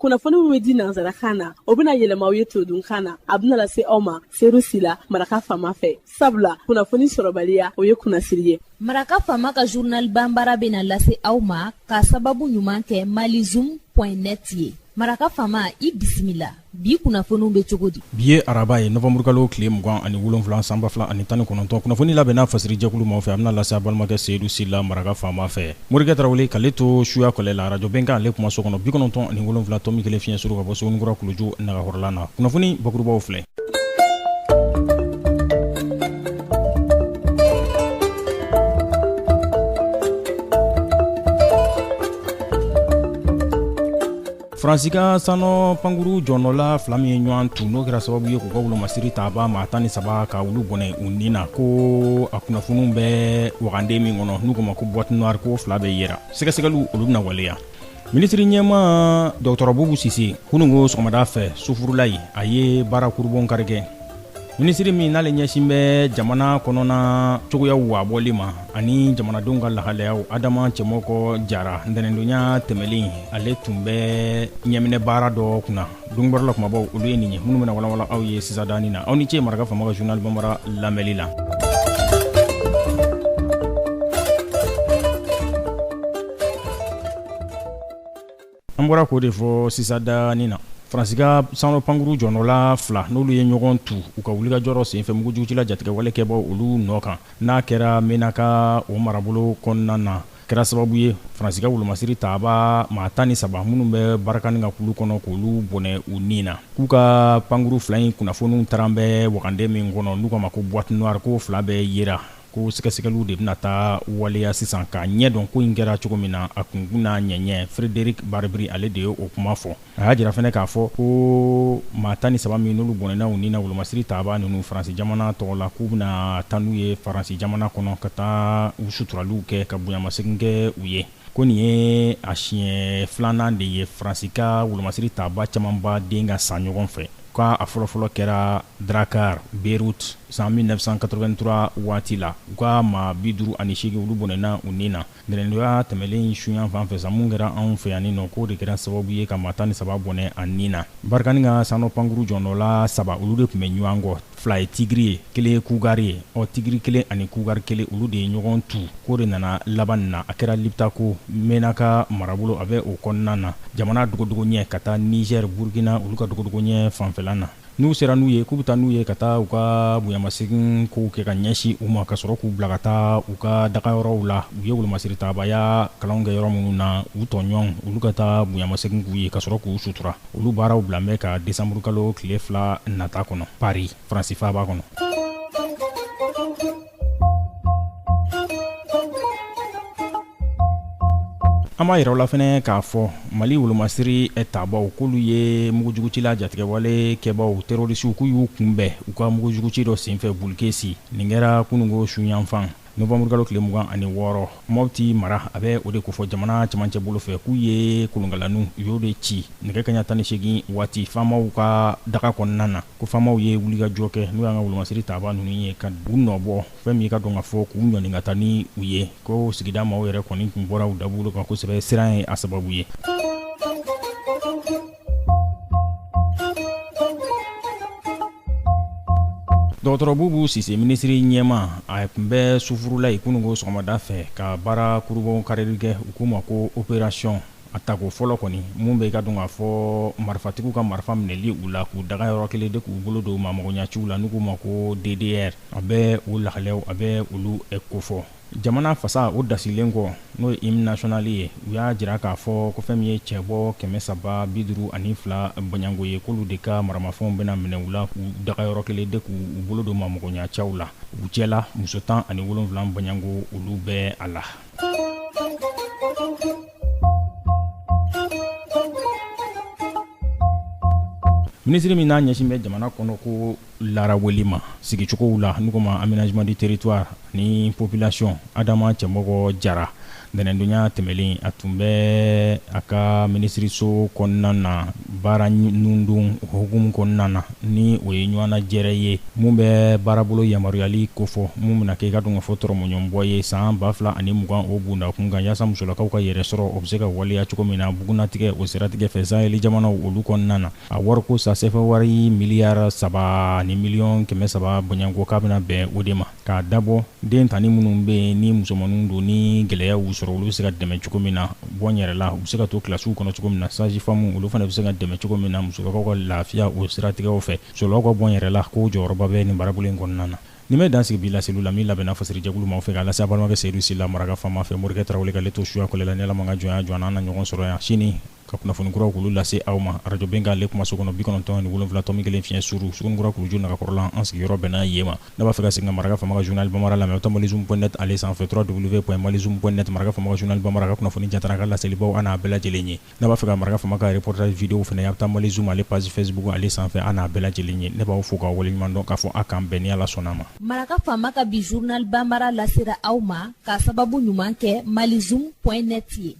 kunnafoni min bɛ di nanzarakan na o bɛna yɛlɛma aw ye todunkan na a bɛna lase aw ma seyidu sila maraka faama fɛ sabula kunnafoni sɔrɔbaliya o ye kunnasiri ye maraka faama ka zurnal banbara bɛna lase aw ma ka sababu ɲuman kɛ malizum point net ye maraka faama i bisimila bi kunnafoniw bɛ cogo di bi ye araba ye nowanburukalo tile mugan ani wolonwula san ba fila ani tan ni kɔnɔntɔn kunnafoni labɛnna fasiri jɛkulu ma fɛ a bɛna lase aw balimakɛ seyidu sila maraka faama fɛ morikɛ tarawele k'ale to suya kɔlɛ la arajo bɛnkan ale kuma so kɔnɔ bi kɔnɔntɔn ani wolonwula tɔmi kelen fiɲɛ suru ka bɔ suguninkura kuluju nagahɔrɔlan na kunnafoni bakurubaw filɛ faransi ka sannɔ pankuru jɔnɔla fila min ye ɲɔgɔn tu n'o kɛra sababu ye k'u ka wolomasiri taba maa tan ni saba ka olu bɔnɛ u ni na ko a kunnafoniw bɛ waganden min kɔnɔ n'u k'a ma ko boite noire k'o fila bɛɛ yera sɛgɛsɛgɛliw olu bɛna waleya minisiri ɲɛmaa dɔgɔtɔrɔ bubu sise kunungo sɔgɔmada fɛ sufurulayi a ye baara kurubonkari kɛ minisiri min n'ale ɲɛsin bɛ jamana kɔnɔna cogoyaw wabɔli ma ani jamanadenw ka lahalayaw adama cɛmɔgɔ jara ntɛnɛndonya tɛmɛnen ale tun bɛ ɲamina baara dɔ kunna don bɔrɛ la kumabaw olu ye nin ye minnu bɛna walawala aw ye sisandanin na aw ni ce maraka faama ka zurnal banbara lamɛnli la An bɔra k'o de fɔ sisandanin na Faransi ka sannɔ pankuru jɔnɔla fila n'olu ye ɲɔgɔn tu u ka wulikajɔ senfɛ mugujugucila jatigɛwale kɛbaa olu nɔ kan n'a kɛra mɛnaka o marabolo kɔnɔna na kɛra sababu ye Faransi ka wolomasiri taaba maa tan ni saba minnu bɛ barikani ka kulu kɔnɔ k'olu bɔnɛ u ni na k'u ka pankuru fila in kunnafoniw taara bɛ wagande min kɔnɔ n'u k'a ma ko boite noire k'o fila bɛɛ yera ko sɛgɛsɛgɛliw de bɛna taa waleya sisan k'a ɲɛ dɔn ko in kɛra cogo min na a kunkun n'a ɲɛɲɛ Frédéric Barbry ale de ye o kuma fɔ a y'a jira fɛnɛ k'a fɔ ko maa tan ni saba min n'olu bɔnɛna u ni na wolomasiri taba ninnu faransi jamana tɔgɔ la k'u bɛna taa n'u ye faransi jamana kɔnɔ ka taa u suturaliw kɛ ka bonyamasegin kɛ u ye Ko nin ye a siɲɛ filanan de ye Faransi ka wolomasiri taaba camanba den ka sa ɲɔgɔn fɛ, k'a a fɔlɔfɔlɔ kɛra Drakkar, Beyrouth, san 1983 waati la, u ka maa 58 olu bɔnɛna u ni na ntɛnɛndonya tɛmɛnen in su yan fan fɛ sa, min kɛra anw fɛ yan nɔ, k'o de kɛra sababu ye ka maa 13 bɔnɛ a ni na. Barkhane ka sannɔ pankuru jɔnɔla saba, olu de tun bɛ ɲɔgɔn kɔ. fila ye tigiri ye kelen ye kugari ye ɔ tigiri kelen ani kugari kelen olu de ye ɲɔgɔn tu ko o de nana laban na a kɛra lipitako menaka marabolo a bɛ o kɔnɔna na jamana dogodogo ɲɛ ka taa nizɛri burukina olu ka dogodogo ɲɛ fanfɛla na n'u sera n'u ye k'u bɛ taa n'u ye ka taa u ka bonyamasegin kow kɛ ka ɲɛsin u ma ka sɔrɔ k'u bila ka taa u ka daga yɔrɔw la u ye wolomasiri tabaaya kalan kɛ yɔrɔ minnu na u tɔɲɔgɔn olu ka taa bonyamasegin k'u ye ka sɔrɔ k'u sutura olu baaraw bila bɛ ka desanburukalo tile fila nata kɔnɔ pari faransi faaba kɔnɔ an b'a yira aw la fɛnɛ k'a fɔ mali wolomasiri tabaw k'olu ye mugujugucila jatigɛwale kɛbaw terɔrisiw k'u y'u kunbɛn u ka mugujuguci dɔ senfɛ bulukesi nin kɛra kunungo su yanfan Nowanburukalo tile mugan ani wɔɔrɔ Mɔti mara a bɛ o de kofɔ jamana cɛmancɛ bolo fɛ k'u ye kolonkalanw u y'o de ci nɛgɛ kanɲɛ tan ni seegin waati faamaw ka daga kɔnɔna na ko faamaw ye wulikajɔ kɛ n'o y'an ka wolomasiri taabaa ninnu ye ka u nɔbɔ fɛn min ka dɔn k'a fɔ k'u ɲɔni ka taa ni u ye ko sigida maaw yɛrɛ kɔni tun bɔra u dabolo kan kosɛbɛ siran ye a sababu ye. dɔgɔtɔrɔ bubu sise minisiri ɲɛmaa a tun bɛ sufurulayi kunungo sɔgɔmada fɛ ka baara kurubon karili kɛ u k'o ma ko operasiyɔn a tako fɔlɔ kɔni mun bɛ ka dɔn k'a fɔ marifatigiw ka marifa minɛli u la k'u daga yɔrɔ kelen de k'u bolo don maamɔgɔya ciw la n'u k'o ma ko ddr a bɛ o lahalaw a bɛ olu kofɔ Jamana fasa o dasilen kɔ n'o ye im nasiyɔnali ye u y'a jira k'a fɔ ko fɛn min ye cɛbɔ kɛmɛ saba bi duuru ani fila bɔɲɔgɔnko ye k'olu de ka maramafɛnw bɛna minɛ u la k'u daga yɔrɔ kelen de k'u bolo don maamɔgɔya caw la u cɛla muso tan ani wolonwula bɔɲɔgɔnko olu bɛ a la minisiri min n'a ɲɛsin bɛ jamana kɔnɔ ko Lara wele ma sigicogow la n'u k'o ma amenazeman di teritwari ni popilasiyɔn adama cɛmɔgɔ jara ntɛnɛndonya tɛmɛnlen a tun bɛ a ka minisiriso kɔnɔna na baara nundon hukumu kɔnɔna na ni o ye ɲɔgɔnnajɛrɛ ye mun bɛ baarabolo yamaruyali kofɔ mun bɛna kɛ ka dɔn k'a fɔ tɔrɔmɔɲɔgɔnbɔ ye san ba fila ani mugan o bunda kun kan yaasa musolakaw ka yɛrɛ sɔrɔ o bɛ se ka waleya cogo min na bugunnatigɛ o siratigɛ fɛ sahɛli jamanaw olu kɔnɔna na A wariko sa sɛfa wari miliyari saba ni miliyɔn kɛmɛ saba bɔɲɔgɔnko k'a bɛna bɛn o de ma k'a dabɔ den tan ni minnu bɛ yen ni musomanninw don ni gɛlɛya y'u sɔrɔ olu bɛ se ka dɛmɛ cogo min na bɔnyɛrɛla u bɛ se ka to kilasiw kɔnɔ cogo min na sazifamu olu fana bɛ se ka dɛmɛ cogo min na musolakaw ka lafiya o siratigɛw fɛ musolakaw ka bɔnyɛrɛla ko jɔyɔrɔba bɛ nin baarabolo in kɔnɔna na nin bɛ dan sigi bi laseliw la min labɛnna fasirijɛkulu ma fɛ k'a lase aw balimakɛ seyidu sila maragafan fɛ morikɛ tarawele wale kale to suya'la n'ala ma ka jɔnya jɔ an na ɲɔgɔn sɔrɔ yan sini ka kunnafoni kuraw k'olu lase aw ma arajo bɛnkan ale kuma so kɔnɔ bi kɔnɔntɔn ni wolonwula tɔmi kelen fiɲɛ suru sugunikura kuluju nagakɔrɔla an sigiyɔrɔ bɛnna yen ma n'a b'a fɛ ka segin ka maraka fama ka journal bamara lamɛn a bɛ taa malizoom point net ale sanfɛ trois w point malizoom point net maraka fama ka journal bamara ka kunnafoni jatara ka laselibaw an'a bɛɛ lajɛlen ye n'a b'a fɛ ka maraka fama ka reportage video fana ye a bɛ taa malizoom ale page facebook ale sanfɛ an'a bɛɛ lajɛlen ye ne b'aw fo k'aw waleɲuman dɔn k'a fɔ a k'an bɛn ni ala sɔnna ma maraka fama ka bi journal bamara lasera aw ma ka sababu ɲuman kɛ malizoom point net ye